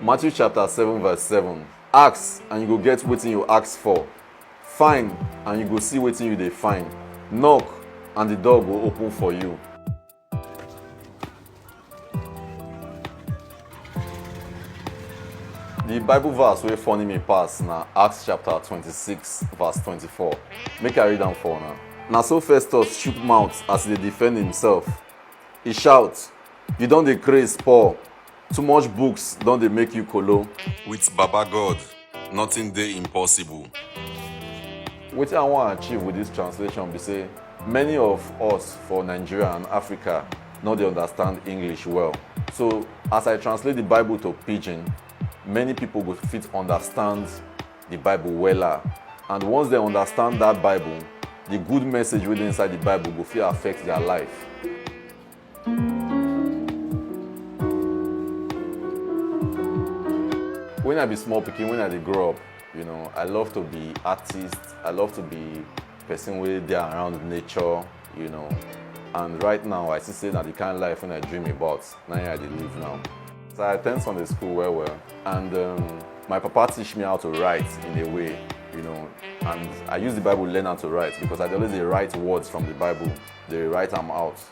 Matthew chapter 7 verse 7 Ask and you go get wetin you ask for find and you go see wetin you dey find knock and the door go open for you The Bible verse wey funny me pass na Acts chapter 26 verse 24. Make I read am for una. Na so Festus chook mouth as e dey defend himself. E shout, You don dey craze poor. Too much books don dey make you kolo. With Baba God, nothing dey impossible. Wetin I wan achieve with this translation be say many of us for Nigeria and Africa no dey understand English well. So as I translate the Bible to pidgin, many people go fit understand the Bible wella. And once dem understand that Bible, the good message wey dey inside the Bible go fit affect their life. When I be small pikin, when I dey grow up, you know, I love to be artist. I love to be person wey dey around nature, you know. And right now, I see say na the kind life when I dream about, na here I dey live now. So I attend Sunday school well well, and um, my papa teach me how to write in a way, you know. And I use the Bible learn how to write because I dey always dey write words from the Bible, dey write am out.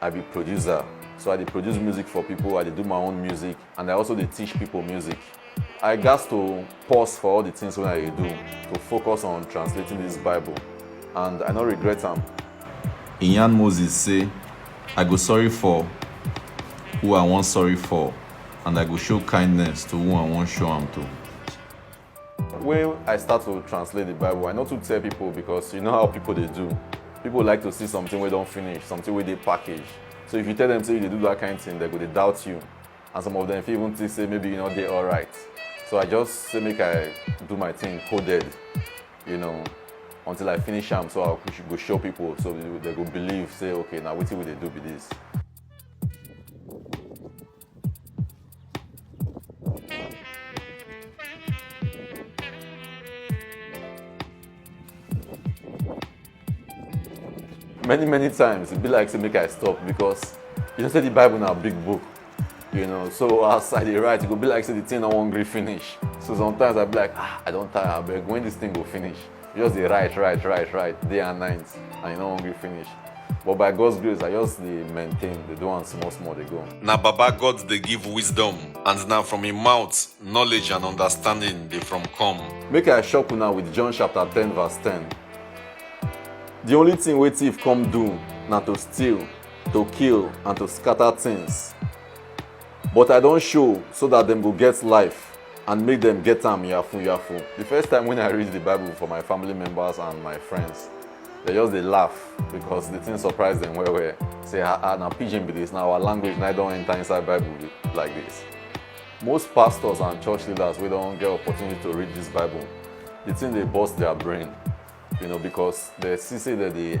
I be producer, so I dey produce music for people, I dey do my own music, and I also dey teach people music. I gats to pause for all the things wey I dey do to focus on translating this Bible, and I no regret am. He yarn Moses say, I go sorry for who I wan sorry for, and I go show kindness to who I wan show am to. When I start to translate the Bible, I no too tell people because you know how people dey do. People like to see something wey don finish, something wey dey package. So if you tell them say you dey do that kind thing, they go dey doubt you. And some of them fit even think say maybe you no dey alright. So I just say make I do my thing coded, you know, until I finish am so I go- go show people so they go believe say okay na wetin we dey do be this. many many times it be like say make i stop because you know say the bible na big book you know so as i dey write e go be like say the thing no wan gree finish so sometimes i be like ah i don tire abeg when this thing go finish You just dey write, write, write, write, day and night, and you no wan gree finish. But by God's grace, I just dey maintain, dey do am small small dey go. Na Baba God dey give wisdom, and na from im mouth knowledge and understanding dey from come. Make I shock una with John chapter 10 verse 10. The only thing wey thief come do na to steal, to kill and to scatter things. But I don show so that dem go get life and make dem get am yafun yafun. The first time when I read the Bible for my family members and my friends, they just dey laugh because the thing surprise them well well. Say, ah, ah, na pidgin be this, na our language na e don enter inside Bible be- like this. Most pastors and church leaders wey don get opportunity to read this Bible, the thing dey burst their brain, you know, because they see say dem dey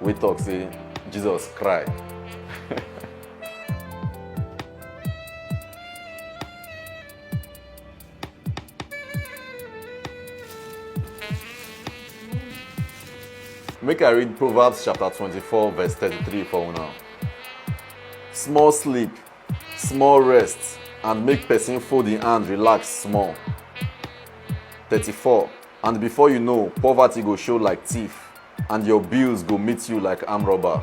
wey talk say Jesus cry. Make I read Proverbs chapter 24, verse 33 for una. Small sleep, small rest, and make person fold im hand relax small. 34. And before you know, poverty go show like thief, and your bills go meet you like arm robber.